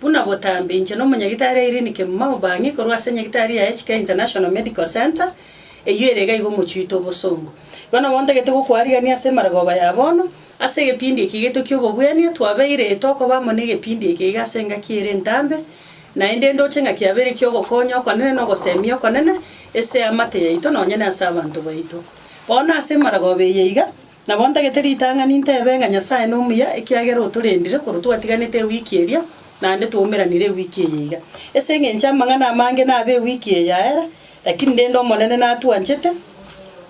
Buna botambe, inche na omonyagitari Irene Kemumao Bang'i korwa ase enyagitari ya HK International Medical Centre, eyio ere iga igo mochuite obosongo. Igo nabo ntagete gokwarigania ase emaragoba ya bono, ase egepindi eke gito ki'obobwenia, twabeire tokoba amo n'egepindi eke iga ase engaki ere entambe, naende ndoche ng'a kiabeire ki'ogokonya okonene na ogosemia okonene ase eamate yaito nonye na ase abanto baito. Bono ase emaragoba eye iga, Nabo ntagete ritang'ani ntebe ng'a Nyasae nomuya, ekiagera otorendire korwa twatiganete ewiki eria, naende twaumeranire ewiki eye iga. Ase engencho amang'ana amange nabe ewiki eye yaera, lakini rende Omonene natwanchete,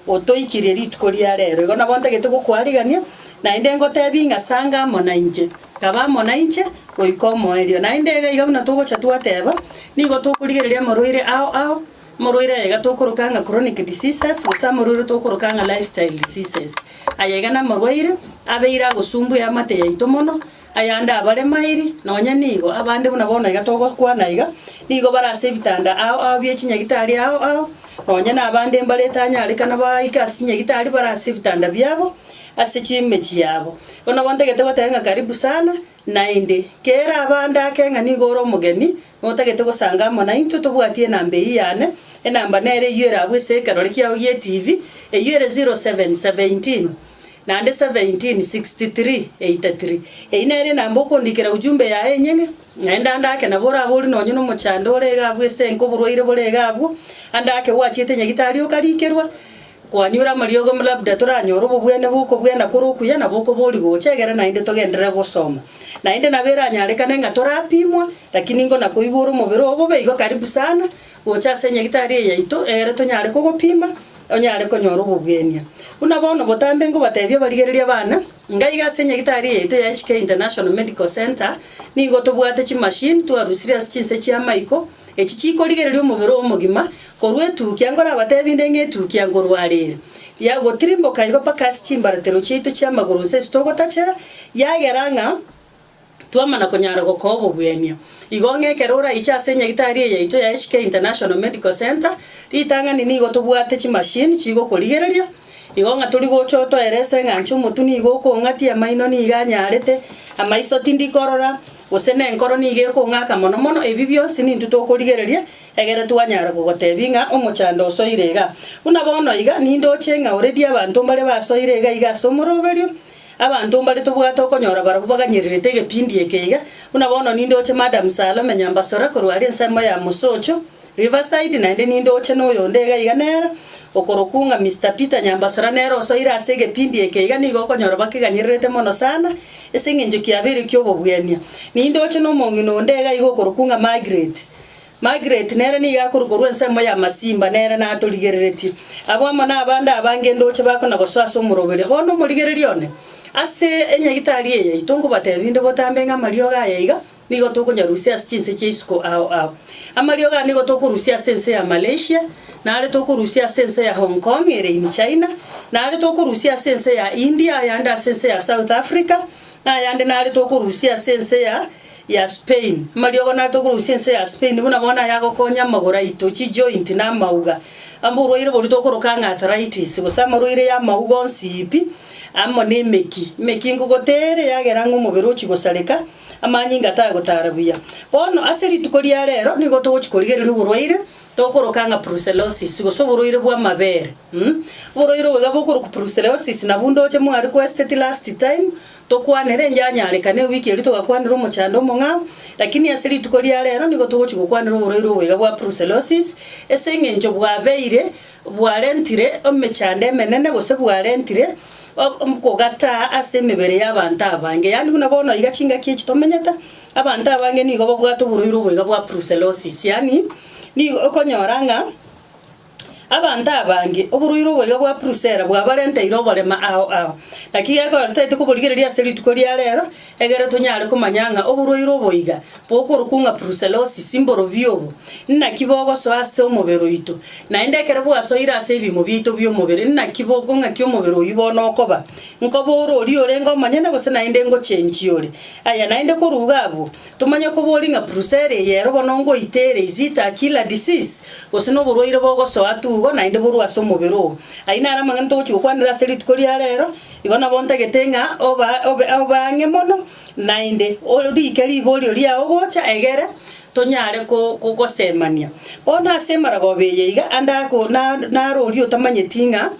otoikirie rituko ria reero. Igo nabo ntagete gokwarigania, naende ngotebi ng'a sanga amo nainche, taba amo nainche goika omoerio. Naende iga iga buna togocha twateba, nigo tokorigereria amarwaire ao ao, Amorwaire aya iga tokoroka ng'a chronic diseases, gose amorwaire tokoroka ng'a lifestyle diseases. Aya iga namorwaire abeire agosumbwa eamate yaito mono, ayande abaremairi, nonye nigo abande buna bono iga togokwana iga, nigo bare ase ebitanda ao ao bie chinyagitari ao ao, nonye nabande mbare etanyarekana baike ase chinyagitari bare ase ebitanda biabo, ase chimechie yabo. Bono bono ntagete goteba ng'a karibu sana, naende kera abande ake ng'a nigo ore omogeni, Notagete gosanga amo naintwe tobwati enamba eyio yane, enamba nere eyio ere abwo ase ekerore kiao gie TV, eyio ere 07 17 naende 17 63 83. Eyio nere enamba okondikera ujumbe yaye enyene, naende ande ake nabo orabe ore nonye nomochando ore iga abwo ase enka oborwaire bore iga abwo, ande ake gwachiete nyagitari okarikerwa, Kwanyure amariogo ng'a labda toranyore obobwene bw'okobwena kore okuya na bokobori gocha egere naende togenderere gosoma. Naende nabo eranyarekane ng'a torapimwa, lakini ingo na koigwa ore omobere obobe igo karibu sana gocha ase enyagitari eye yaito egere tonyare kogopima onyare konyora obobwenia. Buna bono botambe ngobatebia abarigereria abana, inga iga ase enyagitari eye yaito ya HK International Medical Centre nigo tobwate chimachine twarusirie ase chinse chi'amaiko Echi chikorigereria omobere omogima korwa etukia, nkorabateebie inde ng'a etukia nkorwarire, yagotirimboka igo mpaka ase chimbaratero chiaito chi'amagoro gose ase togotachera, yagera ng'a twamana konyara gokoa obogwenia. Igo ng'a ekero oraiche ase enyagitari eye yaito ya HK International Medical Centre, ritang'ani nigo tobwate chimachine chigokorigereria, Igo ng'a tori gocha otoera ase eng'ancho omotu nigo okong'atia, amaino nigo anyarete, amaiso tindi korora, gose nenkoro nigo ekong'aka mono mono, ebi bionsi nintwe tokorigereria, egere twanyara kogotebia ng'a omochando osoire igaa. Buna bono iga, nindoche ng'a oredie abanto mbare basoire iga iga ase omoroberio, Abanto mbare tobwate okonyora barabwo baganyererete egepindi eke iga, buna bono nindoche Madam Salome Nyambasore korwa aria ensemo ya Musocho, Riverside, naende nindoche noyonde iga iga nere, okorokwu ng'a Mister Peter Nyambasora nere osoire ase egepindi eke iga nigo okonyora bakeganyererete mono sana ase eng'encho kiabeire ki'obobwenia. Nindoche nomong'ina onde iga iga okorokwu ng'a Margaret Margaret nere nigo akorwa korwa ensemo ya Masimba, nere natorigereretie. Abwo amo nabande abange ndoche bakona gosoa ase omoroberio. Bono omorigereria one, ase enyagitari eye yaito nkobateebia inde botambe ng'a amariogo aya iga nigo tokonyarusia ase chinse chia isiko ao ao. Amariogo aya nigo tokorusia ase ense ya Malaysia, nare tokorusia ase ense ya Hong Kong ere in China, nare tokorusia ase ense ya India, ayande ase ense ya South Africa, na ayande nare tokorusia ase ense ya ya Spain. Amariogo natogorusia ense ya Spain buna bono aya agokonya amagoro aito, chijoint, na amauga. Amba orwaire boria tokoroka ng'a arthritis, gose amarwaire y'amauga onsi pi, amo nemeki, emeki nkogoteera eyagera ng'a omobere ochia gosareka, amanyinga taya gotara buya. Bono ase rituko ria rero nigo togochi korigereria oborwaire Tokoroka ng'a brucellosis, gose oborwaire bw'amabere. Oborwaire obo iga bokoroku brucellosis, na bunda oche mwari kwesiteti last time, tokwanera enche anyarekane ewiki eria togakwanera omochando omong'ao, lakini ase rituko ria rero nigo togochi gokwanera oborwaire obo iga bwa brucellosis, ase eng'encho bwabeire bwarentire emechando emenene gose bwarentire kogataa ase emebere y'abanto abange. Yaani buna bono iga chingaki echi tomenyete. Abanto abange nigo babwate oboruiro oboiga bwa brucellosis, yaani nigo okonyora ng'a abanto abange oboruiro oboiga bwa brucella bwabarenteire oborema ao ao. Naki gekorwa totaete koborigereria ase rituko ria rero, egere tonyare komanya ng'a oboruiro oboiga bokorokwa ng'a brucellosis mborobio obo, inaki bogosoa ase omobere oito. Naende ekero bwasoire ase ebiimo biaito bi'omobere inaki boko ng'aki omobere oyio bono okoba, nkoba ore oria orenge omonyene gose naende ngochenchie ore. Aya naende koruga abwo, tomanye koboria ng'a purusa ere eyero bono ngoita ere, is it a killer disease? gose noborwaire bogosoa tugo naende borue ase omobere oo. Ayio naro amang'ana togochia gokwanera ase rituko ria reero, igo nabo ntagete ng'a oba obe obe ang'e mono naende orike riborio riao gocha egere tonyare ko gosemania. Bono ase emaragoba eye iga ande ako na naro oria otamanyeti ng'a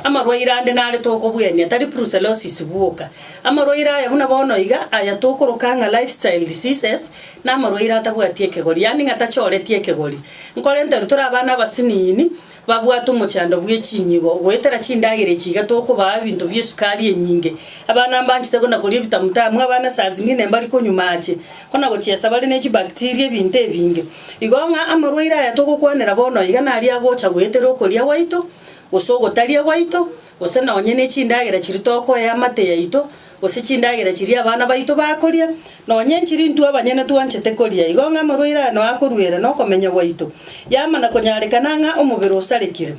Amarwaire ande nare tokobuenia, tari brucellosis bwoka. Amarwaire aya buna bono iga, aya tokoroka ng'a lifestyle diseases, namarwaire atabwati ekegori, yaani ng'a tachoreti ekegori. Nkore nteru tore abana abasiniini, babwate omochando bw'echinyigo, goetera chindagera echi iga tokobaa ebinto bi'esukari enyinge. Abana mbanchete buna koria ebitamutamu, abana saa zingine mbari konywa mache, buna gochiesa bare ne chibacteria ebinto ebinge. Igo ng'a amarwaire aya togokwanera bono iga naria agocha goetera okoria gwaito, gose ogotaria gwaito, gose nonye ne chindagera chiria tokoea amate yaito, gose chindagera chiria abana baito bakoria, nonye nchiri intwe abanyene twanchete koria, igo ng'a amarwaire aya noe akoruera nokomenya gwaito, yamana konyarekana ng'a omobere osarekire.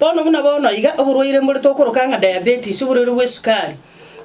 Bono buna bono iga oborwaire mbore tokoroka ng'a diabetes, oborwaire bw'esukari,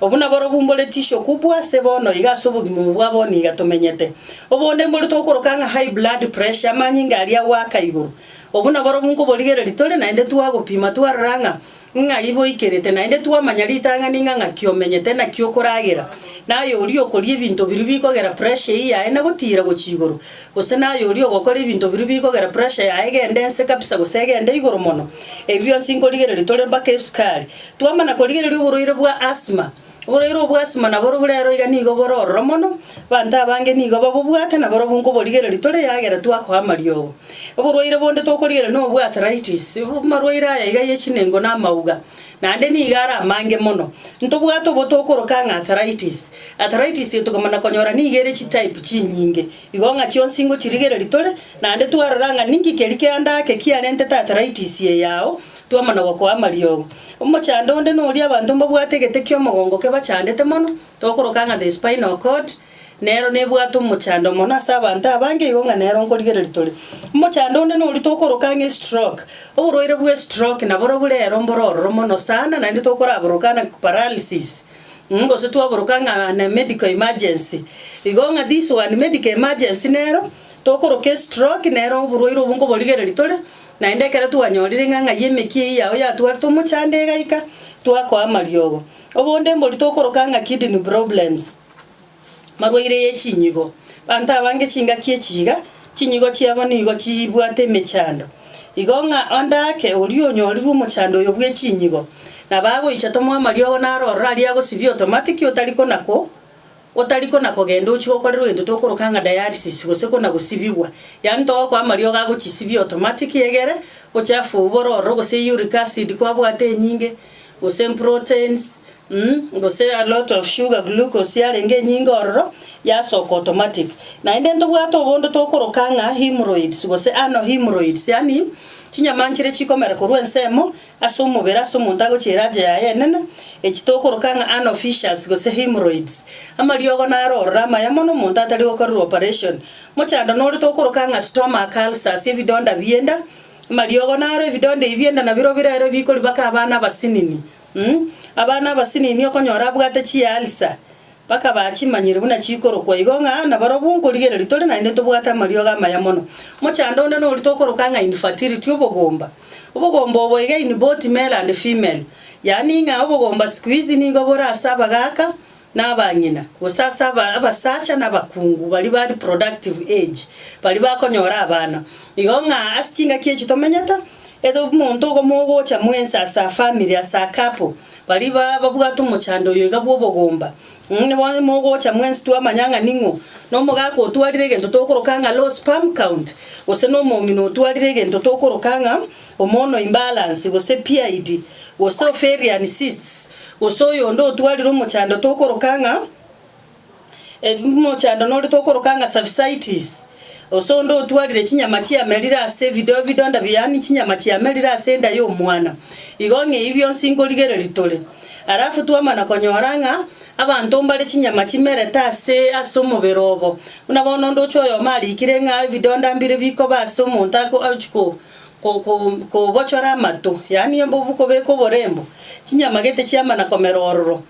Obwo naborobwo mbore tissue kubwa ase bono iga ase obogima obo bwa bono iga tomenyete. Obonde mbore togokoroka ng'a high blood pressure, amanyinga aria goaka igoro. Obwo naborobwo nkoborigereria tore naende twagopima twarora ng'a ng'ai boikerete naende twamanya ritang'ani ng'a ng'aki omenyete, naki okoragera, naye oria okoria ebinto biria bikogera pressure eyio yaye na gotiira gochia igoro, gose naye oria ogokora ebinto biria bikogera pressure yaye egende nse kabisa gose egende igoro mono. Ebi bionsi nkorigereria tore mpaka esukari. Twamana korigereria oborwaire bwa asthma, oborwaire obo bwa asthma nabo ore rero iga nigo bore ororo mono, abanto abange nigo babobwate na barobwo nkoborigereria tore eyagera twakoa amariogo. Oborwaire bonde tokorigereria nobo bwa arthritis, amarwaire aya iga ye chinengo na amauga, naende nigo are amange mono. Ntobwate obo tokoroka ng'a arthritis, arthritis eye tokomana konyora nigo ere chitype chinyinge, Igo ng'a chionsi ngochirigereria tore, naende twarora ng'a ninki keria kianda ake kiarentete arthritis eye yao, twamonogoka oamariogo. Omochando onde noria abanto mbabwate egete ki'omogongo kebachandete mono, tokoroka ng'a the spinal cord, nero nebwate omochando mono ase abanto abange igo ng'a nero nkorigereria tore. Omochando onde noria tokoroka ng'a estroke, oborwaire bw'estroke naborobwo rero mboro ororo mono sana naende tokoraborokana paralysis. Gose twaboroka ng'a na medical emergency. Igo ng'a this one medical emergency nero, tokoroka estroke nero oborwaire obwo nkoborigereria tore, naende ekero twanyorire ng'a ng'ai emeki eyio yao yatwarete omochando igaika, twakoa amariogo. Obonde mbori tokoroka ng'a kidney problems. Marwaire ye chinyigo. Banto abange chingaki echi iga, chinyigo chiabo nigo chibwate emechando. Igo ng'a onde ake oria onyorirwe omochando oyo bwe chinyigo, na bagoicha tomoe amariogo naro ororo aria agosibia automatic otari konako otari konakogenda ochie gokorerwa egento tokoroka ng'a dialysis gose konagosibigwa. Yaani togokoa amariogo agochisibia automatic egere ochafu oo bore ororo gose uric acid kwabwate enyinge, gose proteins, Umm gose a lot of sugar glucose yarenge enyinge ororo yasoka automatic. Naende ntobwate obondo tokoroka ng'a hemorrhoids gose anal hemorrhoids yaani chinyama nchire chikomera korwa ensemo ase omobere ase omonto agochia erache yaye enene echi tokoroka ng'a anal fissures gose hemorrhoids. Amariogo naro ororo amaya mono omonto atari gokorerwa operation. Mochando nore tokoroka ng'a stomach ulcers ebidonda bienda, amariogo naro ebidonda ebi bienda nabirobirere bikori baka abana abasinini. Abana abasinini okonyora abwate chialsa, bakaba chimanyire buna chikorokwa igo ng'a nabarobwo nkorigereria tore naende tobwate amariogo amaya mono. Mochando onde noria tokoroka ng'a infertility, obogomba. Obogomba obo iga in both male and female. Yaani ng'a obogomba siku hizi nigo bore ase abagaka, na abang'ina, gose ase aba abasacha na abakungu baria ba reproductive age, baria bakonyora abana. Igo ng'a ase chingaki echi tomenyete, ere omonto ogomo ogocha mwensi ase a family, ase a couple, baria ba babwate omochando oyo iga bw'obogomba, mh bono mogocha mwensi twamanya ng'a ning'o, na omogaka otwarire egento tokoroka ng'a low sperm count, gose na omong'ina otwarire egento tokoroka ng'a. Omono imbalance, gose PID, gose ovarian cysts, gose oyonde otwarire omochando tokoroka ng'a omochando nore tokoroka ng'a cervicitis, gose onde otwarire chinyama chiamerire ase ebido ebidonda bia yaani chinyama chiamerire ase enda ya omwana. Igo ng'a eyio bionsi nkorigereria tore. Alafu twamana konyora ng'a abanto mbare chinyama chimerete ase ase omobere obo. Buna bono onde oche oyomo arikire ng'a ebidonda mbire bikoba ase omonto ako ochiko. kobochora amato, yaani embovu kobeka oborembo, chinyama gete chiama na komera ororo.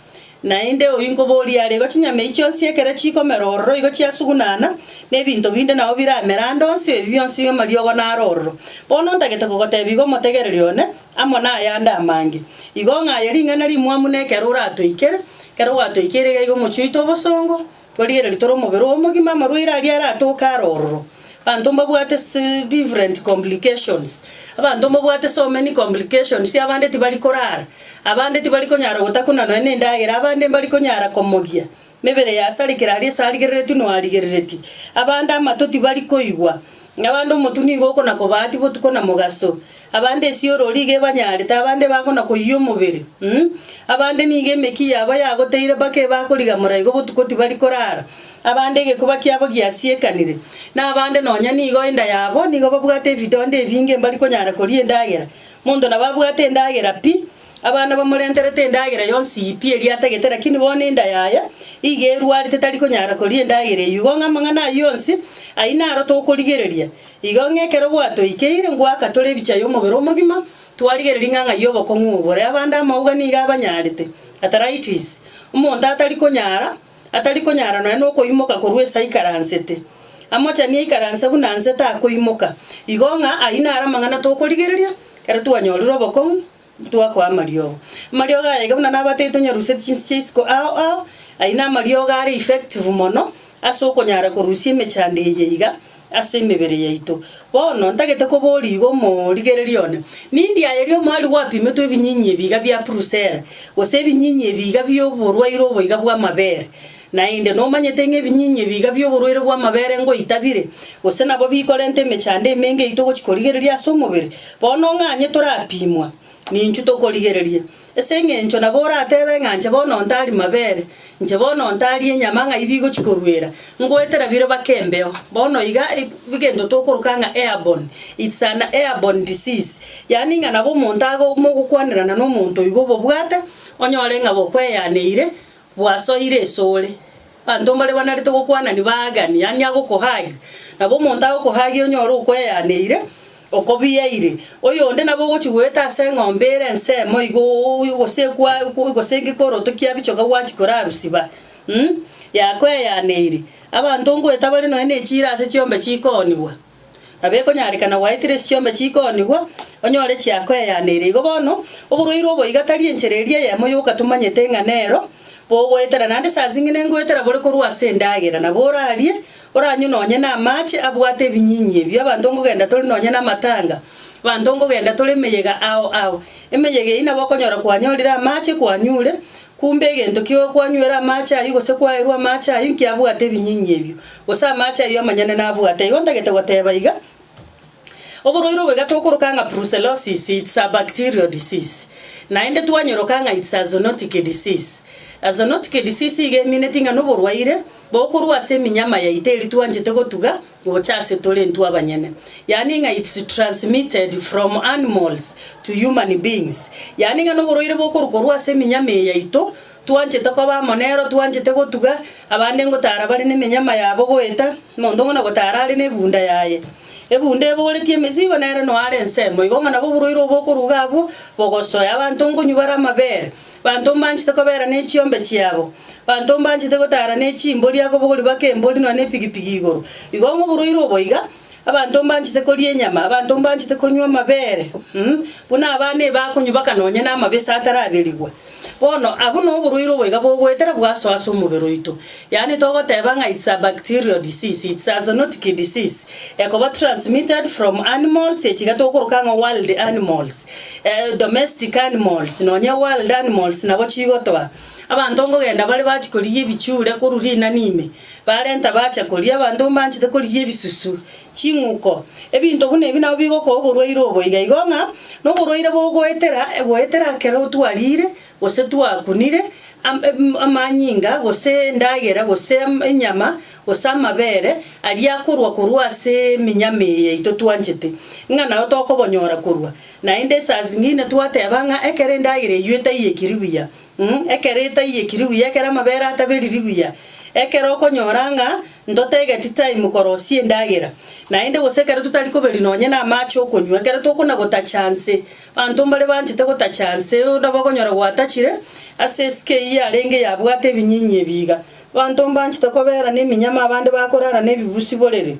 Naende oyio nkoboria are, igo chinyama echi chionsi ekero chikomera ororo igo chiasugunana, na ebinto binde nabo biramere ande onsi, ebi bionsi amariogo naro ororo. Bono ntagete kogotebia igo omotegereri one, amo nayande amange. Igo ng'aye ring'ana rimwamu na ekero oratoikere, ekero gwatoikeire iga igo omochie oite obosongo. Torigereria tore omobere oyo omogima, amarwaire aria aratoke are ororo. Abanto mbabwate different complications, abanto mbabwate so many complications, abande tibari korara, abande tibari konyara gotakuna nonya na endagera, abande mbari konyara komogia, mebere yasarekire aria esarigereretie noarigereretie, abande amato tibari koigwa, Abande omotwe nigo okona-kobaati botuko na mogaso, abande esioro riga ebanyarete, abande bakona-koyia omobere, um, abande nigo emeki yabo yagoteire mpaka ebakoriga moraigo botuko tibari korara, abande egekuba kiabo giasiekanire, na abande nonya nigo enda yabo nigo babwate ebidonda ebinge mbari konyara koria endagera, monto nabo abwate endagera pi. Abana bamorenterete endagera yonsi pi eria atagete, lakini bono enda yaye iga erwarete tari konyara koria endagera eyio. Igo ng'a amang'ana ayio yonsi ayio naro tokorigereria. Igo ng'a ekero gwatoikeire ngoaka tore ebichaya omobere omogima, twarigereria ng'a ng'ai obokong'u obore abande amauga nigo abanyarete, arthritis, omonto atari konyara atari konyara nonya nokoimoka korwa ase aikaransete, amochani aikaranse buna nse takoimoka, igo ng'a ayio naro amang'ana tokorigereria ekero twanyorire obokong'u twakoa amariogo. Amariogo aya iga buna nabatebete tonyarusie chinse chia isiko ao ao, ayio namariogo are effective mono ase okonyara korusia emechando eye iga. ase emebere yaito. Bono ntagete koboria igo morigererie one, Nindi aye ria omoerio gwapimetwe ebinyinyi ebiiga bia purusera, gose ebinyinyi ebiiga bi'oborwaire oboiga bw'amabere? Naende nomanyete ng'a ebinyinyi ebiiga bi'oborwaire bw'amabere ngoita bire, gose nabo bikorenta emechando emenge yaito gochia korigereria ase omobere. Bono ng'anye torapimwa, ninchu tokorigereria. Ase engencho nabo oratebe ng'a inche bono ntari mabere, inche bono ntari enyama ng'ai bigochia koruera, ngoetera bire bake embeo. Bono iga egento tokoroka ng'a airborne, it's an airborne disease, yaani ng'a nabo omonto age mogokwanerana na omonto oigo obobwate, onyore ng'a bokweyaneire, bwasoire ase ore. Abanto mbare banarete gokwanani baagani, yaani agokohug, nabo omonto agokohagia onyore okweyaneire. Okobiaire, oyonde nabo ogochia goeta ase eng'ombe ere ensemo igo, gose ekwaye, gose enki koroto kia bichoka gwachia korabisiba, yakweyaneire. Abanto ngoeta bare nonya ne chiira ase chiombe chikoonigwa, nabo ekonyarekana gwaetire ase chiombe chikoonigwa, onyore chiakweyaneire. Igo bono, oborwaire obo iga tari enchera eria eyemo yoka tomanyete ng'a nero bogoetera, naende saa zing'ine ngoetera bore korwa ase endagera, nabo orarie. Oranywe nonye namache abwate ebinyinyi ebio, abanto nkogenda tore nonye namatanga, abanto nkogenda tore emeyega ao ao. Emeyega eyio nabo okonyora kwanyorire amache kwanyure, kumbe egento kio kwanywera amache ayio gose kwaerwa amache ayio nkiabwate ebinyinyi ebio, gose amache ayio amanyene nabwate. Igo ntagete goteba iga. Oborwaire obo egatokoroka ng'a brucellosis, it's a bacterial disease, naende twanyoroka ng'a it's a zoonotic disease. A zoonotic disease iga emineti ng'a noborwaire bokorwa ase eminyama yaito eri twanchete gotuga gocha ase tore intwe abanyene. Yaani ng'a it's transmitted from animals to human beings, yaani ng'a noborwaire bokorwa korwa ase eminyama eye yaito, Twanchete koba amo nero, twanchete gotuga abande ngotaara bare nemenyama yabo goeta, monto ng'ina gotaara are nebunda yaye. Ebunda ebogoretie emesigo nere noare ensemo, igo ng'a nabo oborwaire obo okoruga abwo bogosoe. Abanto nkonywa bare amabere, banto mbanchete kobera nechiombe chiabo, banto mbanchete gotaara nechimbori akobogori bake embori nonya nepigipigi igoro. Igo ng'a oborwaire obo iga, abanto mbanchete koria enyama, abanto mbanchete konywa amabere, buna abana eba akonywa baka nonya namabese ataraberigwa. Bono, abwo noborwaire obo iga bogoetera bwaso ase omobere oito, yaani togoteba ng'a it's a bacterial disease, it's a zoonotic disease, ekoba transmitted from animals, echi iga togokoroka ng'a wild animals, domestic animals, nonya wild animals nabo chigotoa. Abanto nkogenda bare bachia korigia ebichure korwa rinani ime, barenta bacha koria, abanto mbanchete korigia ebisusu. Ching'uko. Ebinto buna ebi nabwo bigokoa oborwaire obo iga igo ng'a noborwaire bogoetera egoetera ekero twariire gose twakunire am em amanyinga gose endagera gose am enyama gose amabere aria akorwa korwa ase eminyama eye yaito twanchete ng'a nao tokobonyora korwa. Naende esasi ng'ine twateba ng'a ekero endagera eyio etaiekiri buya, Ekero etaiyeki riguya, ekero amabere ataberi riguya, ekero okonyora ng'a ntotegeti time korosia endagera, naende gose ekero totari koberi nonye namache okonywa, ekero tokona gotacha nse, abanto mbare banchete gotacha nse, nabo okonyora gwatachire ase esike eyio yarenge yabwate ebinyinyi ebi iga. Abanto mbanchete kobera neminyama abande bakorara nebibusi borere.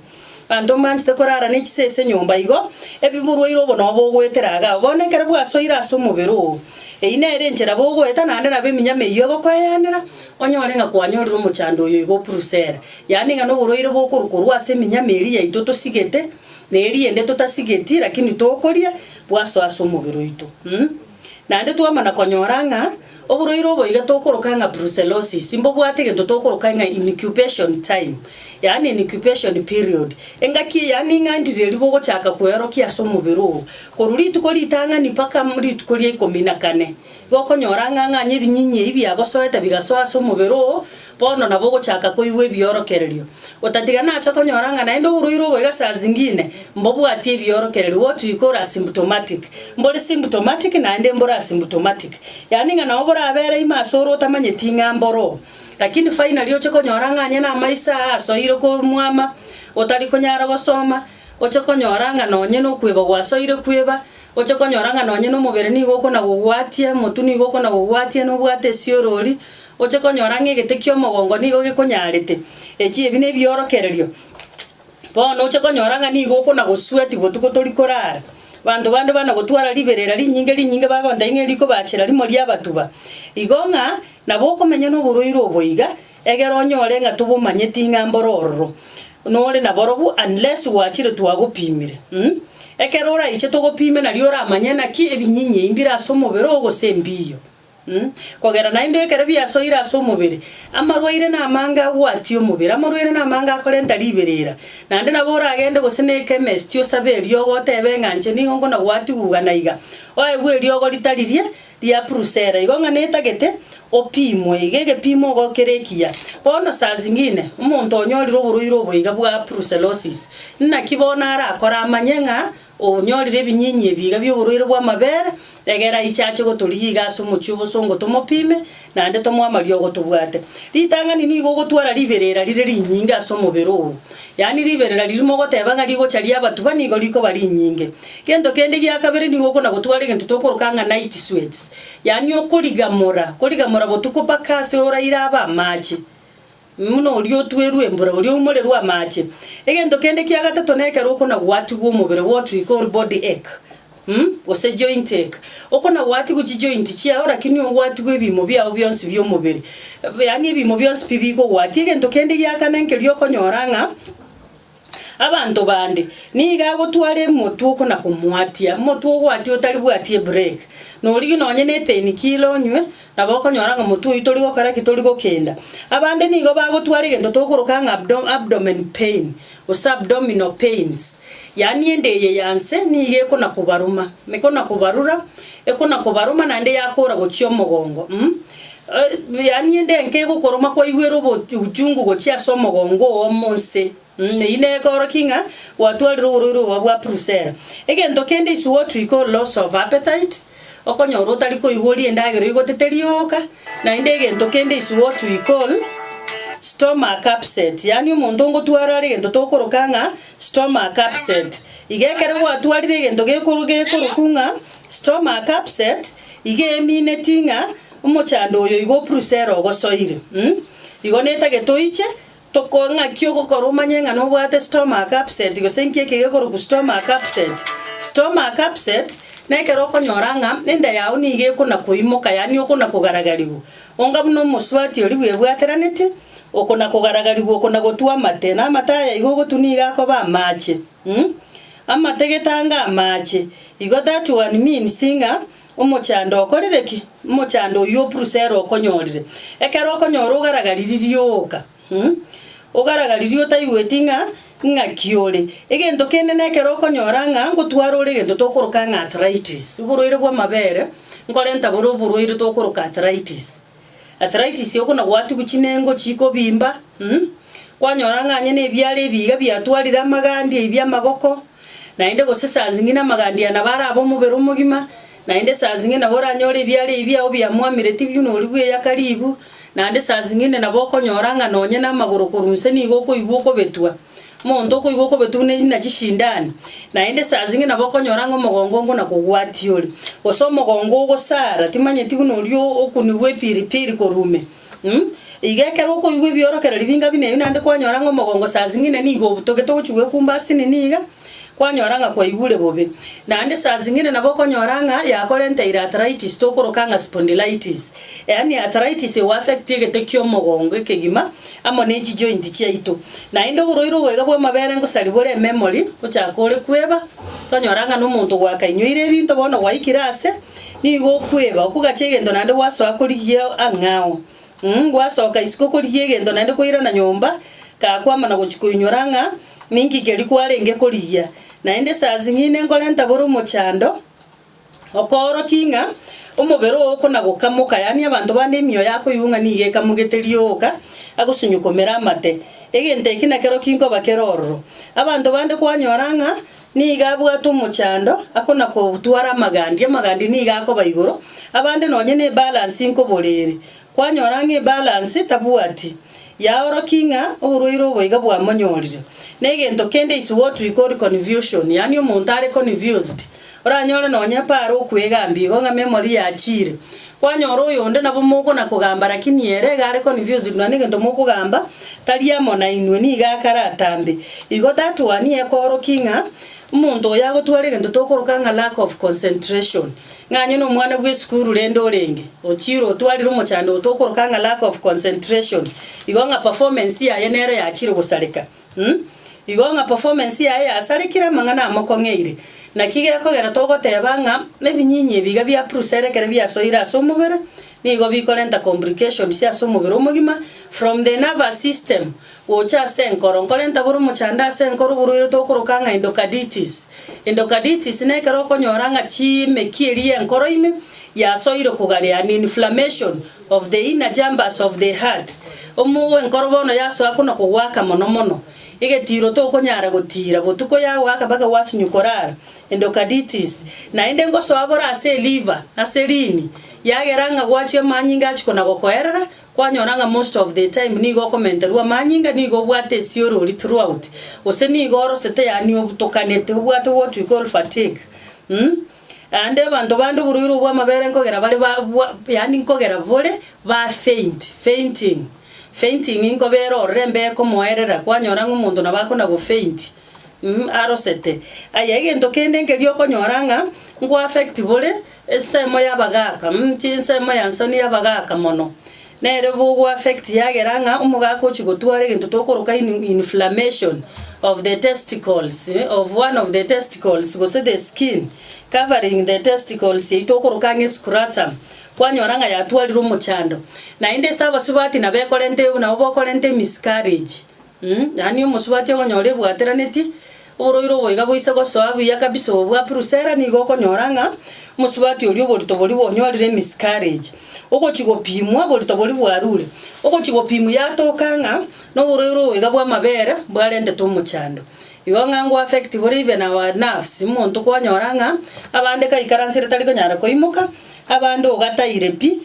Abanto mbanchete korara ne chisee ase enyomba igo, ebiburwa ire obo nobo ogoetera agao. Bono ekero bwasoire ase omobere oo, eyio nere enchera bogoeta naende nabo eminyama eyio egokweyanera, onyore ng'a kwanyorire omochando oyo iga o Purusera. Yaani ng'a noborwaire bokorwa korwa ase eminyama eria yaito tosigete, na eria ende totasigeti, lakini tokoria bwasoa ase omobere oito. Naende twamana konyora ng'a oborwaire obo iga tokoroka ng'a brucellosis mbobwate egento tokoroka ng'a incubation time, yaani incubation period. Engaki eye yaani ng'a ndire ribe ogochaka kweorokia ase omobere oo. Korwa rituko ritang'ani mpaka rituko ria ikomi na kane, igo okonyora ng'a ng'anye ebinyiinyi ebi biagosoete bigasoa ase omobere oo, Bono nabo ogochaka koigwa ebiorokererio, otatiga nacha konyora ng'a naende oboruirwe oboiga saa zingine mbobwatie ebiorokererio, what we call asymptomatic. Mbore symptomatic naende mbore asymptomatic, yaani ng'a nao borabeere ime ase ore otamanyeti ng'a mboroo, lakini finally oche konyora ng'a onye namaiso aa asoire komwama, otari konyara gosoma, oche konyora ng'a nonye nokweba gwasoire kweba, oche konyora ng'a nonye nomobere nigo okona gogwatia, omotwe nigo okona gogwatia nobwate esiorori, Oche konyora ng'a egete ki'omogongo nigo gekonyaarete. Echi ebi nebiorokererio. Bono oche konyora ng'a nigo okonagosweeti botuko tori korara. Banto bande banagotwara riberera rinyinge rinyinge bagontebia ng'a erikobaachera rimo riabatuba. Igo ng'a nabo okomenya noborwaire obo iga, egera onyore ng'a tobomanyeti ng'a mboro ororo nore naborobwo unless gwachire twagopimire. Ekero oraiche togopime nario oramanye naki ebinyinyi eyi mbire as'omobere oo gose mbiiyo. Kogera naende ekero biasoire ase omobere, amarwaire namange agwatie omobere, amarwaire namange akorenta riberera. Naende nabo oragende gose neeke emesiti osabe eriogo oteebe ng'a inche nigo nkona gwatiguga na iga, oegwe eriogo ritaririe ria purusera igo ng'a netagete opimwe, iga egepimo igo kere ekiya. Bono saa zingine, omonto onyorire oborwaire obo iga bwa puruselosis, naki bono arakore amanye ng'a. Onyorire ebinyiinyi ebi iga bi'oborwaire bw'amabere, egera aiche ache gotorigia iga ase omochie o bosongo tomopime, naende tomoe amariogo tobwate. Ritang'ani nigo ogotwara riberera rire rinyinge ase omobere oo, yaani riberera riria mogoteba ng'a rigocha ria abatuba nigo rikoba rinyinge. Gento kende gia kabere nigo okona-gotwara egento tokoroka ng'a night sweats, yaani okorigamora, korigamora botuko mpaka ase oraire abe amache. Buna oria otuerwe embura, oria oumorerwe amaache. Egento kende kia gatato nekero okonagwatigwa omobere gwotuika or body ache, gose joint ache. Okonagwatigwa chijoint chiao lakini ogwatigwe ebiimo biao bionsi bi'omobere, yaani ebiimo bionsi pi bikogwatia. Egento kende gia kane nkeria okonyora ng'a. Abanto bande, nigo agotwara emotwe oko na komoatia, omotwe ogwatia otari bwati ebureki. Norigie nonye ne epenikila onywe, nabo okonyora ng'a omotwe oyio tori gokora ki? Tori gokenda. Abande nigo bagotwara egento togokoroka ng'a abdo abdomen pain, gose abdominal pains, yaani ende eye ya nse nigo ekona kobaruma, ekona kobarura, ekona kobaruma naende yakora gochia omogongo, um. Yaani endenka egokoroma kwaigwera obochungu gochia ase omogongo oo omo onse. Eyio negoorokia ng'a gwatwarire oborwaire obo bwa brucella. Egento kende is what we call loss of appetite, okonyora otari koigwa orie endagera oigotete rioka, naende egento kende is what we call stomach upset, yaani omonto ngotwara are egento tokoroka ng'a stomach upset. Iga ekero gwatwarire egento gekoro gekorokwa ng'a stomach upset, iga emineti ng'a. Omochando oyo igo opurusera ogosoire. Igo netagete oiche, toko ng'aki ogokora omanye ng'a nobwate stomach upset gose nki eke gekorokwa stomach upset. Stomach upset, na ekero okonyora ng'a enda yao nigo ekona koimoka yaani okona kogaragarigwa. Onga buna omosubati oria bwebwateranetie, okona kogaragarigwa okona gotua amate, na amate aya igo ogotwa nigo akoba amache. Amate getange amache, igo that one means ng'a. Omochando okorire ki? Omochando oyio o Purusera okonyorire. Ekero okonyora ogaragariri rioka, ogaragariri otaigweti ng'a ng'aki ore. Egento kende na ekero okonyora ng'a ngotwara ore egento tokoroka ng'a arthritis, oborwaire bw'amabere, nkorenta bore oborwaire tokoroka arthritis. arthritis okona gwatigwa chinengo chikobimba, kwanyora ng'a onye nebiara ebi iga biatwarire amagandi aibia amagoko, naende gose saa zingine amagandi aya nabo arabe omobere omogima, naende saa zingine nabo oranyore ebiara ebi biago biamwamire tibibe nori bweyaka ribu, naende saa zingine nabo okonyora ng'a nonye namagoro korwa inse nigo okoigwa okobetwa. Omonto okoigwa okobetwa buna erina chisindani, naende saa zing'e nabo okonyora ng'a omogongo oo ngonakogwatia ore, gose omogongo ogosara, timanyeti buna oria okunigwa epiri piri korume. Iga ekero okoigwa ebiorokererio binga buna ebio naende kwanyora ng'a omogongo saa zing'ina nigo obutogete ogochia gwekumba ase nini iga, kwanyora ng'a kwaigure bobe. Naende saa zing'ina nabo okonyora ng'a yakorenteire arthritis tokoroka ng'a spondylitis, yaani arthritis egoaffect egete kia omogongo ekegima. amo nenchijointi chiaito, naende oborwaire obwega bw'amabere ngosari bore ememori, gochaka ore kweba, tonyora ng'a nomonto gwakainyoire ebinto bono gwaikire aase, nigo okweba, okogacha egento naende gwasoa korigia ang'ao, um gwasoka isiko korigia egento naende kwairana nyomba, gakwamana gochia koinyora ng'a ninki keria kwarenge korigia. Naende esasi ng'ina enkorenta bore omochando. Okoorokia ng'a omobere oo okonagoka moka, yaani abanto bande emioyo yakoyuung'a nigo ekamogete rioka, agosunyokomera amate. Egento eke nakero kinkoba kere ororo. Abanto bande kwanyora ng'a nigo abwate omochando, akona kotwara amagandi, amagandi nigo akoba igoro, abande nonye nebalansi nkoborere, kwanyora ng'a ebalansi tabwati. Yaoroki ng'a oborwaire obo iga bwamonyorire. Negento kende is what we call confusion, yaani omonto are confused. Oranyore nonye Paaro okwegambia igo ng'a memory yachiire. Kwanyora oyonde nabo mogona kogamba lakini ere iga are confused nonya negento mokogamba tari amo nainwe nigo akaratambe. Igo that one ekooroki ng'a omonto oyo agotwara egento tokoroka ng'a lack of concentration. Ng'anyo nomwana bw'esukuru rende orenge, ochire otwarire omochando oto okoroka ng'a lack of concentration, igo ng'a performance yaye nero yachire gosareka. Umm. Igo ng'a performance yaye yasarekire amang'ana amokong'eire. Naki gekogera togoteba ng'a ebinyinyi ebi iga bia prucell ekero biasoire ase omobere, nigo bikorenta complications ase omobere omogima from the nervous system gocha ase enkoro, nkorenta bore omochando ase enkoro oboruerete okoroka ng'a endocarditis. Endocarditis nekero okonyora ng'a chimeki eria y'enkoro ime yasoire kogare, an inflammation of the inner chambers of the heart. Omo enkoro bono yasoa kona kogoaka mono mono, egetiiro tokonyara gotiira, botuko yagoaka mpaka gwasunywa korara, endocarditis. Naende ngosoa bore ase eliver, ase rini, yagera ng'a gwachia amanyinga achi kona gokoerera, Kwanyora ng'a most of the time nigo okomenterwa amanyinga, nigo obwate esiorori throughout, gose nigo orosete yaani obutokanete, obwate what we call fatigue um Aande abanto bande oborwaire bw'amabere nkogera bare ba bwa yaani nkogera bore ba faint, fainting, fainting nkobera orore embeeko moerera, kwanyora ng'a omonto nabo akona go faint. arosete. Aya egento kende nkeria okonyora ng'a nko affect bore, ensemo y'abagaka, chinsemo ya nsoni y'abagaka mono, nere bogo affect yagera ng'a omogaka ochia gotwara egento tokoroka in- inflammation of the testicles of one of the testicles gose the skin covering the testicles eywo tokoroka ang'e scrotum, kwanyora ng'a yatwarire omochando. Naende ase abasubati nabo ekorenta nabo bokorenta emiscarriage. Yaani omosubati okonyora ebwateranetie oboroiro oboiga boise gosoa buya kabisa obo bwa Prusela, nigo okonyora ng'a omosubati oria oborito boria bwonyorire emiscarriage, ogochia gopimwa oborito boria bwarure, ogochia gopimwa yatoka ng'a noboroiro oboiga bw'amabere bwarentetwe omochando. Igo ng'a ngoaffect bore even our nerves, omonto kwanyora ng'a abande kaikaranse tari konyara koimoka, abande ogataire pi.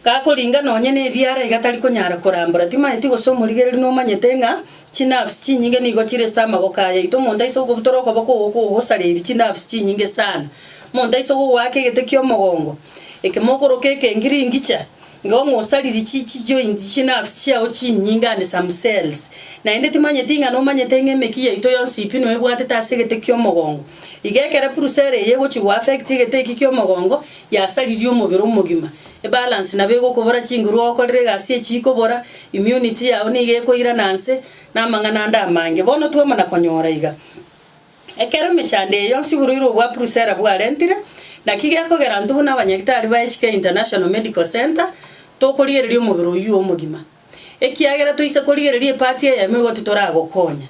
gakoringa nonya nebiara iga tari konyara korambora. Timanyeti gose omorigereri nomanyete ng'a chinafsi chinyinge nigo chire ase amagoko ayaito. Omonto aise gokobutora okoboko oko kogosareria chinafsi chinyinge sana. Omonto aise gogoaka egete ki'omogongo eke mokoroka ekengiringicha, nigo ng'a osaririe chi chi joints chinafsi chiao chinyinge and some cells. Naende timanyeti ng'a nomanyete ng'a emeki yaito yonsi pi noebwatete ase egete ki'omogongo. Iga ekero purusa ere eye egochi goaffect egete eki ki'omogongo, yasaririe omobere omogima. Ebalance nabo egokobora chinguru ogokorera egasi echi ikobora, immunity yao nigo ekoirana inse na amang'ana ande amange. Bono twamana konyora iga, ekero emechando eye yonsi iburoirwe obwa Brucella bwarentire, naki gekogera intwe buna abanyagitari baye Chike International Medical Centre tokorigereria omobere oyio omogima. ekiagera toise korigereria epaati eyemo igo titoragokonya.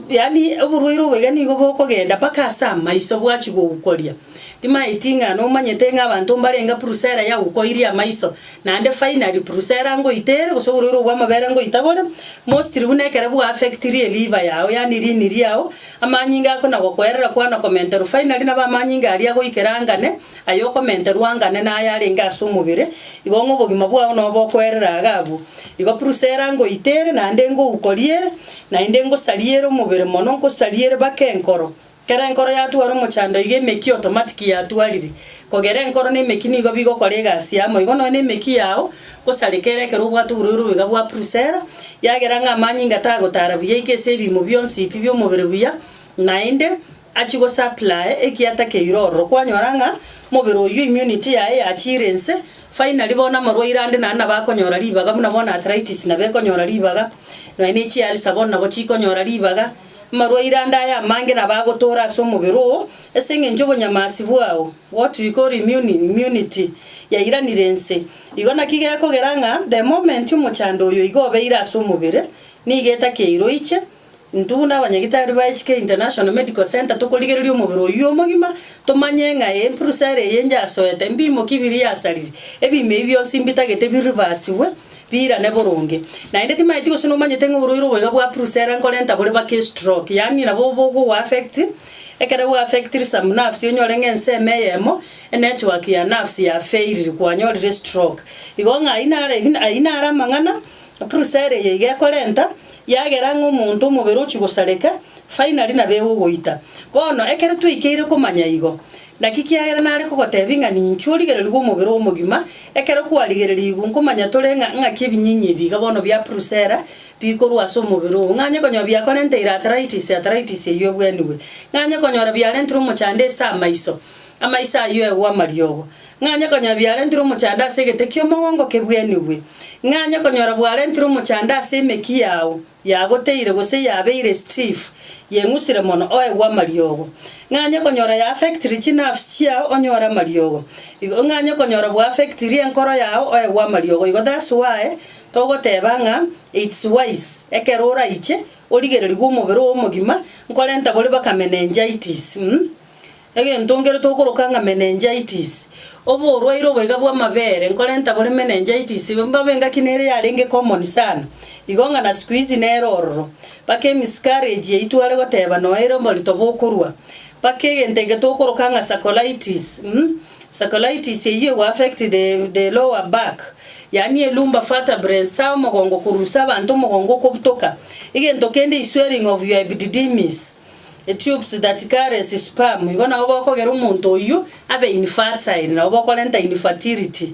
Yaani oborwaire obo iga nigo bokogenda mpaka ase amaiso bwachia gogukoria. Timaeti ng'a nomanyete ng'a abanto mbarenge prusela yagukoirie amaiso, naende finally prusela ngoita ere gose oborwaire obwo bw'amabere ngoita bore, mostly buna ekero bwa-affectirie liver yao yaani rini riao, amanyinga ako nagokoerera kwanakomenterwa finally nabo amanyinga aria agoikera angane. Aye okomenterwa angane naye arenge ase omobere, igo ng'a obogima bwao nobe okoerera iga abwo. Igo Brusela ngoite ere, naende ngouko riere, naende ngosaria ere omobere mono, ngosaria ere baka enkoro. Ekero enkoro yatwara omochando iga emeki otomatiki yatwarire. Kogera enkoro na emeki nigo bigokora egasi amo. Igo nonya na emeki yao ngosareka ere ekero obwate oborwaire obo iga bwa Brusela, yagera ng'a amanyinga tagotaara buya iko ase ebiimo bionsi ebi bi'omobere buya, naende Achie gosapply ekiata keire ororo kwanyora ng'a mobere oyio immunity yaye yachiire inse finally bono amarwaire ande naende nabo akonyora ribaga buna bono arthritis nabo ekonyora ribaga nonya ne chi ulcer bono nabo chikonyora ribaga amarwaire ande aya amange nabo agotoora ase omobere oo ase eng'encho obonyamasi bwao what we call immune immunity yairanire inse igo naki gekogera ng'a the moment omochando oyo iga obeire ase omobere nigo etakeire oiche. Intwe na abanyagitari ba HK International Medical Centre tokorigereria omobere oyio omogima, tomanye ng'a eye mpurusa ere eye yasoete, mbiimo ki biria yasarire, ebiimo ebi bionsi mbitagete bi reversigwe, biirane boronge. Naende timaeti gose nomanyete ng'a oboruire oboiga bwa purusa ere nkorenta bore bake estroke, yaani nabo bokogo affect, ekero bwa affectire some nerves onyore ng'a ensemo eyemo, enetwork ya nerves yafeiriri kwanyorire estroke. Igo ng'a ayio nare ayio nare amang'ana Epurusa ere yaiga ekorenta yagera ng'a omonto omobere ochia gosareka, finally nabo egogoita. Bono, ekero twaikeire komanya igo, naki kiagera nare kogotebia ng'a ninchuo origererigwe omobere omogima, ekero kwarigererigwe nkomanya tore ng'a ng'aki ebinyiinyi ebi iga bono bia purusa era bikorwa ase omobere oo, ng'anye konyora biakorenteire arthritis, arthritis eyio ebwenigwe, ng'anye konyora biarenterwe omochando ase amaiso, Amaiso ayio egwe amariogo, ng'anye konyora biarentirwe omochando ase egete ki'omogongo kebwenigwe, ng'anye konyora bwarentirwe omochando ase emeki yao yagoteire gose yabeire stiff, yeng'usire mono, oegwe amariogo. Ng'anye konyora ya affectire chinerves chiao onyore amariogo, igo ng'anye konyora bw'affectirie enkoro yao oegwe amariogo igo that's why togoteba ng'a it's wise ekero oraiche origererigwe omobere oo omogima nkorenta boria baka meningitis. Egento nkerete okoroka ng'a meningitis, oborwaire oboiga bw'amabere nkorenta bore meningitis, mbabe engaki nere yarenge common sana, igo ng'a na sikuizi nere ororo, mpaka emisikarage yaito are goteba noeire oborito bokorwa, mpaka egento eke tokoroka ng'a sacolitis, um sacolitis eyio egoaffect the the lower back, yaani elumbar vertebrae nsa omogongo korusia abanto omogongo okobutoka, egento kende is swelling of your epididymis. E tubes that carries sperm, igo nabo bokogera omonto oyio abe infertile, nabo bokorenta infertility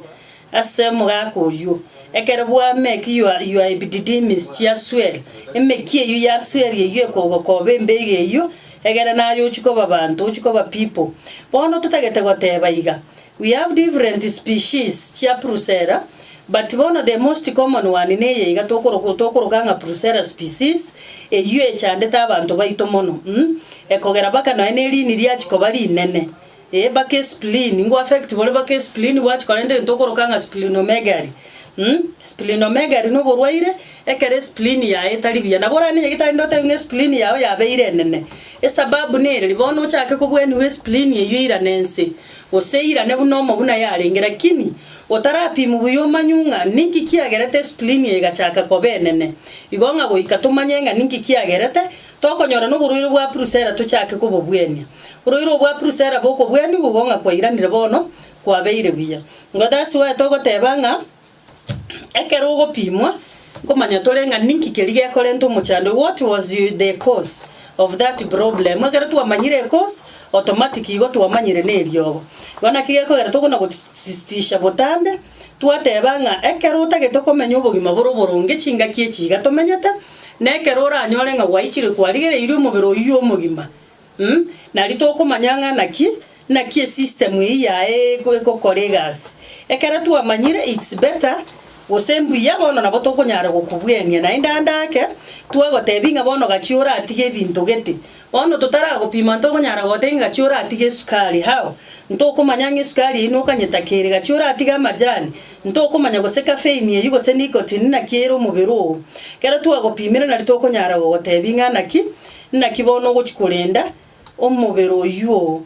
ase omogaka oyio. Ekero bwamake your, your epididymis chia swell, emeki eyio ya swell eyio ekogokoba embega eyio, egere naye ochie koba banto, ochie koba people. Bono totagete goteba iga, We have different species chia Brucella but bono the most common one neye iga tokoroka tokoroka ng'a Brucella species, eyio echandete abanto baito mono um ekogera baka nonya ne riini riachi koba rinene eh baka e spleen ingo affect bore baka e spleen bwachi korenta egento okoroka ng'a splenomegaly um splenomegaly noborwaire. Ekero esplini yaye etari buya, nabo orare nenyagitari ndotebi ng'a esplini yao yabeire enene. Esababu nere, ribaao nochake kobweniwa esplini eyio eirane ense, gose eirane buna omobuna yarenge. Lakini otarapimi buya omanywe ng'a ninki kiagerete esplini eye egachaka koba enene, igo ng'a goika tomanye ng'a ninki kiagerete, tokonyora noborwaire bwa purusera tochake kobobwenia. Borwaire obwo bwa purusera bokobweniwa igo ng'a kwairanire bono kwabeire buya. Ngoeta ase oye togoteba ng'a. Ekero ogopimwa, nkomanya tore ng'a ninki keria gekorenta omochando, what was the cause of that problem. Ekero twamanyire ecause, automatic igo twamanyire na eriogo. Igo naki gekogera tokona gotisisisisha botambe, twateba ng'a ekero otagete okomenya obogima bore oboronge chingaki echi iga tomenyete, na ekero oranyore ng'a gwaichire kwarigereirie omobere oyio omogima, Mh, nari tokomanya ng'a naki naki esystem eyio yaye egokora egasi. Ekero twamanyire it's better gose mbuya bono nabo tokonyara gokobwenia naende ande ake twagotebia ng'a bono gachia oratige ebinto gete. Bono totaragopima ntokonyara gogotebia ng'a gachia oratige esukari how? Ntokomanya ng'a esukari eyio nokanyetaka ere, gachia oratige amajani ntokomanya gose caffeine eyio gose nicotine naki ere omobere oo. Ekero twagopimire nari tokonyara gogotebia ng'a naki Naki bono ogochia korenda omobere oyuo,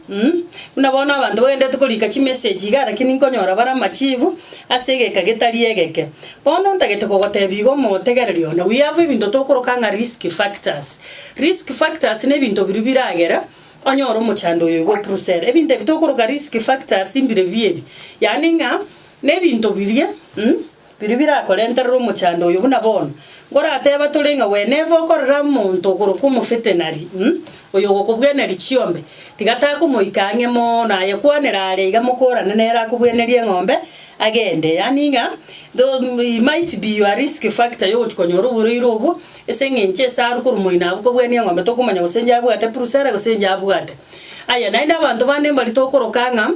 buna bono abanto bagenderete korika chimeseji igaa lakini nkonyora bare amachibu ase egeka getari egeke. Bono ntagete kogotebia igo omotegereri one, we have ebinto tokoroka ng'a risk factors. Risk factors na ebinto biria biragere onyore omochando oyo iga opuruse ere. Ebinto ebio tokoroka risk factors mbire bibi ebi, yaani ng'a na ebinto biria. Biria birakorenterera omochando oyo buna bono. Nkorateba tore ng'a Whenever okorora omonto okorokwa omofetenari, oyo ogokobweneria chiombe, tiga takomoika ang'e mono aye kwanera are iga mokorane nere akobwenerie eng'ombe agende. Yaani ng'a he might be your risk factor ya ogochia konyora oborwaire obwo ase eng'encho ase arwe korwa moino abwo kobwenia eng'ombe tokomanya gose inche abwate epurusu ere gose inche abwate. Aya naende abanto bande mbari tokoroka ng'a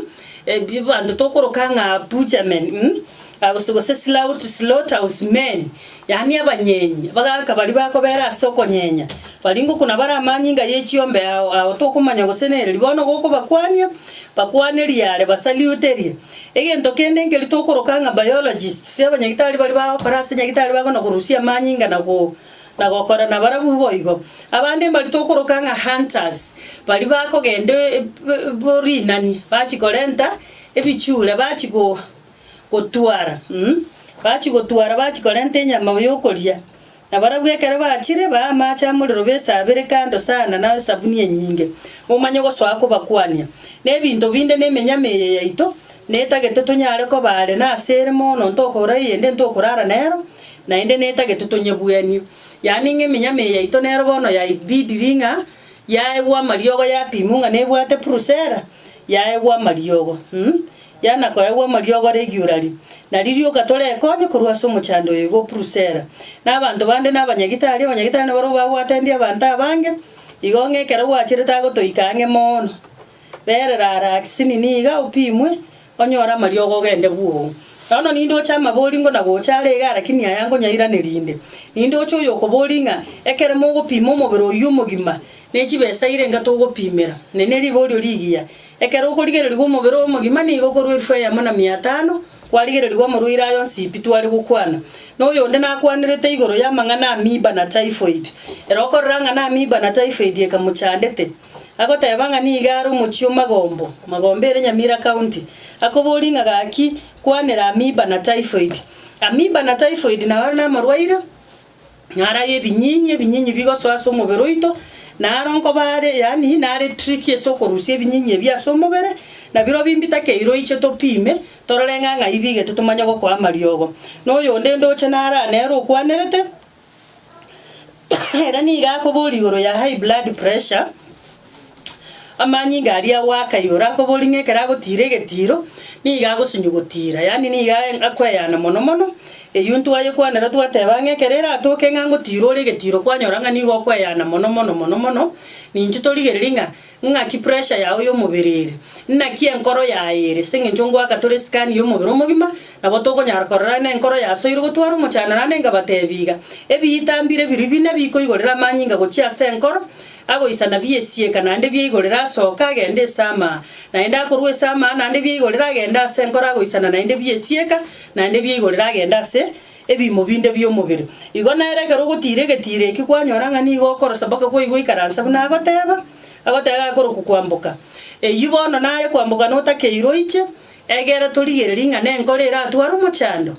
ebi abanto tokoroka ng'a butchermen. Gose, gose slaught, slaughterhouse men, yaani abanyenyi, abagaaka baria bakobeera ase okonyenya, baria ngokuna bare amanyinga ye chiombe ao ao tokomanya gose nereri, bono gokobakwania, bakwanerie are, basaluterie. Egento kende nkeria tokoroka ng'a biologists, abanyagitari baria bagokora ase nyagitari bakona korusia amanyinga na go na gokora na barabwo boigo. Abande mbaria tokoroka ng'a hunters, baria bakogenda e- e- bo- rinani, bachi korenta ebichura, bachi go. gotwara, um, bachia gotwara bachia korenta enyama yokoria. Na barabwo ekero bachire, baa amache amorero besaabere kando sana na esabuni enyinge, omanye ogosoa kobakwania. Na ebinto binde na emenyama eye yaito netagete tonyare koba are nase ere mono ntokora eyende ntokorara nero, naende netagete tonyebuanie. Yaani ng'a emenyama eye yaito nero bono yaibidiri ng'a yaegwa amariogo yapimwa ng'a nebwate purusera, yaegwa amariogo, um, Yana koegwa amariogo are egiurari, na ririoka torekonye korwa ase omochando oye igo Prusera, na abanto bande na abanyagitari, abanyagitari nabarobwo bagwatanire abanto abange, igo ng'a ekero gwacherete agotoika ang'e moono. Berera ara Aksini niga opimwe, onyore amariogo ogende bwoo. Nono ninde oche amabori ngo na gocha are iga arakini aya nkonyairaneria inde? Ninde oche oyokobori ng'a ekero mogopima omobere oyio omogima ne chibesa irenga togopimera, ne ne riborio rigiya, Ekero okorigererigwa omobere oye omogima nigo okorua elfu eyemo na mia atano, kwarigererigwa omorwaire aye onsi pi tware gokwana. Na oyonde nakwanerete igoro y'amang'ana amiiba na typhoid. Ere okorora ng'a namiiba na typhoid ekamochandete, agoteba ng'a nigo are omochie o Magombo, Magombo ere Nyamira County, akoborie ng'a gaki kwanera amiiba na typhoid. Amiiba na typhoid naro namarwaire. narage ebinyinyi, ebinyinyi bigosoa ase omobere oito, na aro nkoba are yaani nare trick ase okorusia ebinyinyi ebi ase omobere, nabirobi mbitakeire oiche topime, torore ng'a ng'ai bigete tomanye gokoa amariogo. Na oyonde ndoche nare aa nere okwanerete, ere nigo akoboria igoro ya high blood pressure. Amanyinga aria agoaka igoro akobori ng'a ekero agotiira egetiiro, nigo agosunywa gotiira, yaani nigo aye akweyana mono mono. Eyio ntwayekwanera twateba ng'a ekero eratoke ng'a ngotiira ore egetiiro kwanyora ng'a nigo okweyana mono mono mono mono, nincho torigereria ng'a ng'aki pressure yago ya omobere ere, naki enkoro yaye ere ase eng'encho ngoaka tore scan ya omobere omogima, nabo tokonyara korora na enkoro yasoire gotwara omochando naende nkabatebi iga, ebiyitambire biria bine bikoigorera amanyinga gochia ase enkoro. Agoisana bi'esieka naende bia igoro erasooke agende ase amaa, naende akorwa ase amaa naende bia igoro eragende ase enkoro agoisana naende bi'esieka naende bia igoro eragende ase ebiimo binde bi'omobere. Igo nere ekero ogotiira egetiira ekio kwanyora ng'a nigo okorosa mpaka kwaigwa oikaransa buna agoteeba, agoteba iga akorokwa kwamboka. Eyio bono naye kwamboka notakeire oiche, egera torigererie ng'a nenkoro eratware omochando.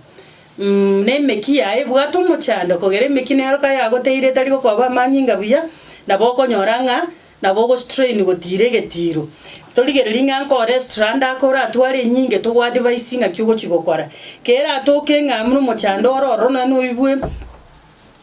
na emeki yaye ebwate omochando, kogera emeki neroka yagoteire etari gokoba amanyinga buya, nabo okonyora ng'a nabo ogostrain gotiira egetiiro. Torigererie ng'a nkore strand ake oratware enyinge togoadvise ng'aki ogochi gokora. Keratoke ng'a buna omochando ore ororo nonye noibwe.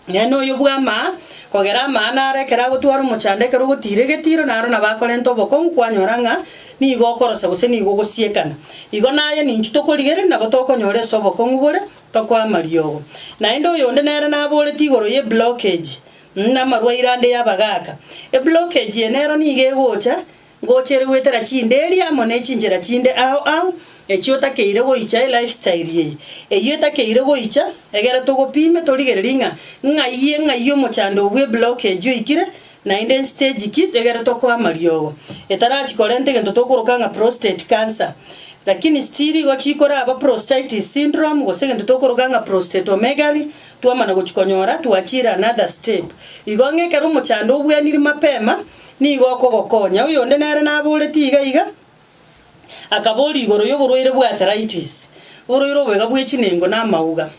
Nere noyo bw'amaa, kogera amaa naro ekero agotwara omochando ekero ogotiira egetiiro naro nabo akorenta obokongu kwanyora ng'a nigo okorosa gose nigo ogosiekana. Igo naye ninchu tokorigereria nabo tokonyora ase obokongu bore, tokwama riogo. Naende oyonde nere naboretie igoro ye blockage, na amarwaire ande y'abagaaka. Eblockage eye nero nigo egocha Ngochiire goetera chinderia amo ne chinchera chinde ao ao, echio otakeire goicha e life style eye. Eyio etakeire goicha, egera togopime torigererie ng'a ng'ai ng'ai omochando obwe blockage oikire, naende nstage ki egere tokoe amariogo. Etarachi korenta egento tokoroka ng'a prostate cancer. Lakini still igo chikoraba prostaitis syndrome gose egento tokoroka ng'a prostatomegaly, twamana gochia konyora twachiire another step. Igo ng'a ekero omochando obwenirie mapema. Nigo okogokonya. Oyonde nere naboretie iga iga, akaboria igoro y'oborwaire bw'arthritis, oborwaire obwega bwe chinengo na amauga.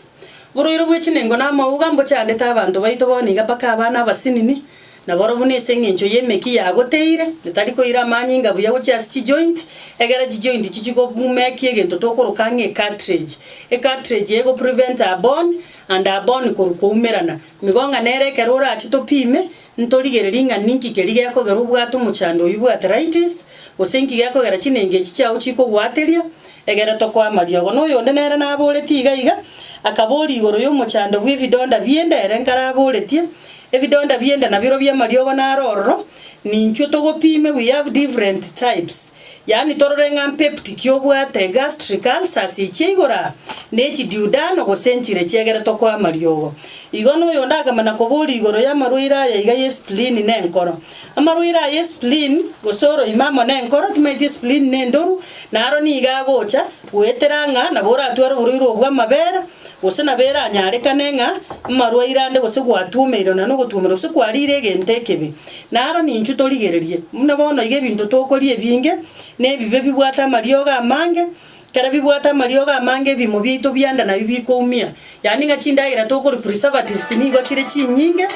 Oborwaire bwe chinengo na amauga mbochandete abanto baito bono iga mpaka abana abasinini, na boro buna ase eng'encho y'emeki yagoteire, etari koira amanyinga buya gochia ase chijoint, egera chijoint chichie kobumekia egento tokoroka ang'e ecartridge. Ecartridge eye egopreventa bone and bone korwa koumerana. Migong'a nere ekero orache topime, Ntorigererie ng'a ninki keria gekogera obwate omochando oyio bw'arthritis, gose inki gekogera chinengi echi chiao chikogwateria. Egere tokoama riogo. Noyonde nere naboretie iga iga, akaboria igoro y'omochando bw'ebidonda bi'enda ere nkaraboretie. Ebidonda bi'enda nabirobio amariogo naro ororo, ninchwo togopime, we have different types. Yaani torore ng'a mpeptic y'obwate gastric ulcers echia igoro aa, ne chidiudano gose enchire chiegeretwe koa amariogo. Igo noyonde akamana koboria igoro y'amarwaire aya iga ye spleen na enkoro. Amarwaire aya ye spleen gose oroime amo na enkoro timaeti spleen ne endoru na aro nigo agocha goetera ng'a nabo oratware oborwaire obwo amabera gose nabo eranyarekane ng'a amarwaire ande gose gwatuomeirwe na nogotwomerwa gose kwarire egento ekebe. Na aro ninchu torigererie, buna bono iga ebinto tokoria ebinge, na ebibe bibwate amariogo amange, ekero bibwate amariogo amange ebimo biaito bianda nabio bikoumia. Yaani ng'a chindagera tokori preservatives nigo chire chinyinge,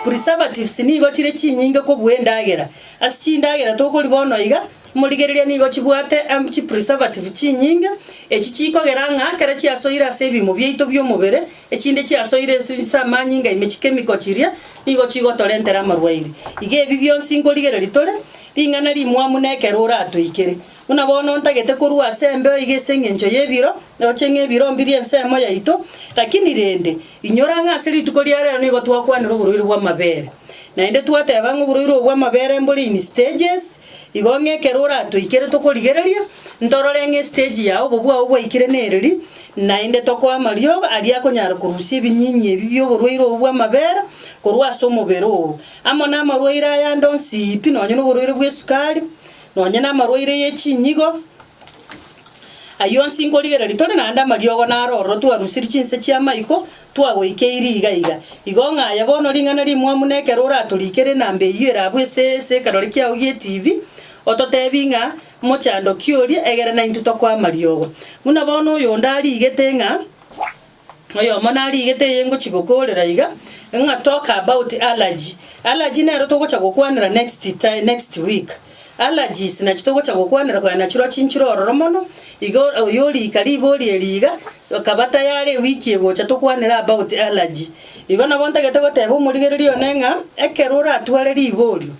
preservatives nigo chire chinyinge kobua endagera. Ase chindagera tokoria bono iga, morigereria nigo chibwate am chipreservative chinyinge, echi chikogera ng'a ekero chiasoire ase ebimo biaito bi'omobere. Echinde chiasoire ase ase amanyinga ime chikemikwa chiria, nigo chigotorentera amarwaire. Iga ebi bionsi nkorigereria tore, ring'ana rimwamu na ekero oratoikere. Buna bono ntagete korua ase embeo iga ase engencho y'ebiro, roche ng'a ebiro mbirie ensemo yaito, lakini rende, inyora ng'a ase rituko ria rero nigo twakwanire oboruire bw'amabere. Naende twateba ng'a oboruire obo bw'amabere mbore in stages, igo ng'a ekero oratoikere tokorigereria, ntorore ng'a estage ya obobe bwao bwaikire nereri, Naende tokoe amariogo aria akonyara korusia ebinyinyi ebi bi'oborwaire obo bw'amabera korwa ase omobere oo, amo namarwaire ayande onsi pi, nonya noborwaire bw'esukari, nonya namarwaire ye chinyigo. Ayio onsi nkorigereria tore naende amariogo naro ororo twarusirie chinse chi'amaiko twagoikeirie iga iga. Igo ng'a aye bono ring'ana rimwamu nekero oratorikere enamba eyio erabwo ase ekerore kiao gi'etibi, ototebie ng'a Omochandoki oria, egere naintwe tokwe amariogo. Buna bono oyonde arigete ng'a oyomo narigete eye ngochia gokoorera iga, ng'a talk about allergy. Allergy nero togocha gokwanera next ti next week. Allergies nachio togocha gokwanera konya nachiroo chinchire ororo mono, iga oyio orika ribori eri iga, akaba tayari ewiki egocha tokwanere about allergy. Igo nabo ntagete goteba omorigereria one ng'a ekero oratware riborio.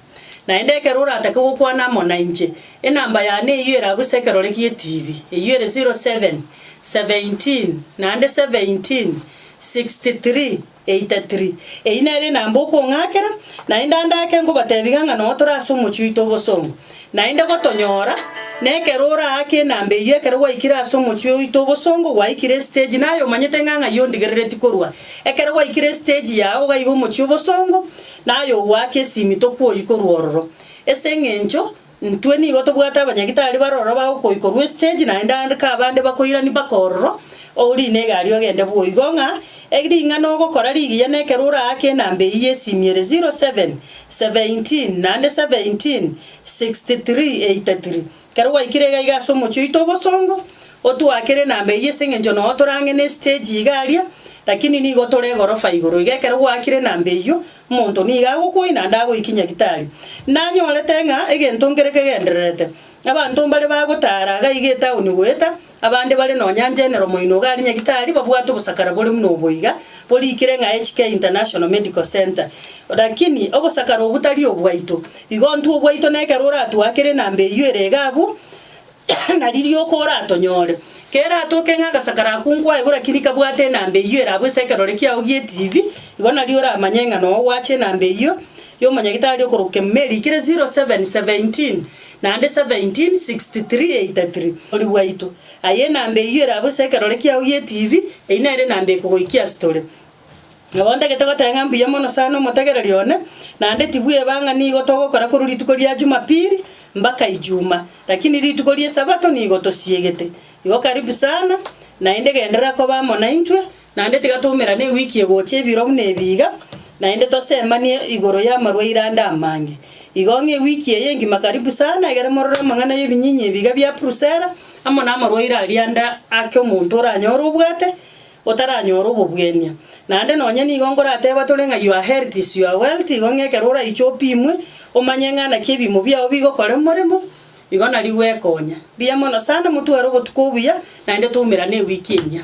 Naende ekero oratake gokwana amo nainche, enamba yane eyio eragwe ase ekerore gi'etibi, eyio ere 07, 17, naende 17, 63, 83. Eyio nere enamba okong'akera, naende ande ake nkobatebiga ng'a nonya tore ase omochie oito obosongo. Naende gotonyora, na ekero oraake enamba eyio ekero gwaikire ase omochie oito obosongo, gwaikire estage, naye omanyete ng'a ng'ai ondigerereti korwa ekero gwaikire estage yao iga iga omochie obosongo, Naye ogoaka esimi tokwori korwa ororo, ase eng'encho intwe nigo tobwate abanyagitari bare ororo bagokoikorwa esiteji naende ande kabande bakoirani baka ororo, ourine egari ogende bwoigo ng'a ring'ana ogokora rigiya na ekero oraake enamba eyio y'esimi ere 07, 17, naende 17, 63, 83. Ekero gwaikire iga iga ase omochie oito obosongo, otwakere namba eyio ase engencho noo torang'e ne stage iga aria, lakini nigo tore egorofa igoro iga ekero gwakire namba eyio, omonto nigo agokwoyia naende agoiki nyagitari. Nanyorete ng'a egento nkere kegendererete. Abanto mbare bagotara gaiga etaoni goeta Abande bare nonya General Moinouga are Nyagetari babwate obosakara bore buna obo iga, borikire ng'a HK International Medical Centre. Lakini obosakara obwo tari obwaito. Igo ntwe obwaito na ekero oratuakere enamba eyio ere iga abwo, nari rioka oratonyore. Kera atoke ng'a agasakara ako nkwaigwa lakini kabwate enamba eyio ere abwo ase ekerore kiao gie TV, igo nari oramanye ng'a noo gwacha enamba eyio y'omonyagetari okoroka kemuma erikire 0717. Naende 17 63 83 Omoruoti bwaito, aye enamba eyio ere abwo ase ekerore kiao gie TV, eyio nere enamba ekogoikia ase tore. Nabo ntagete goteba ng'a mbuya mono sana omotegereri one, naende tibweba ng'a nigo togokora korwa rituko ria Jumapili mbaka Ijuma, lakini rituko ri'esabato nigo tosiegete. Igo karibu sana, naende genderera koba amo naintwe, Naende tiga twaumerane ewiki egocha ebiro buna ebi iga, naende tosemanie igoro y'amarwaire ande amange. Igo ng'a ewiki eye engima karibu sana, egere morore amang'ana y'ebinyinyi ebi iga bia Prusela, amo namarwaire aria ande ake omonto oranyore obwate, otaranyora obobwenia. Naende nonye nigo nkorateba tore ng'a your health is your wealth, igo ng'a ekero oraiche opimwe, omanye ng'a naki ebiimo biao bigokora omoremo, igo nari gwekonya. Mbuya mono sana, motware obotuko obuya, naende twaumerane ewiki enyia.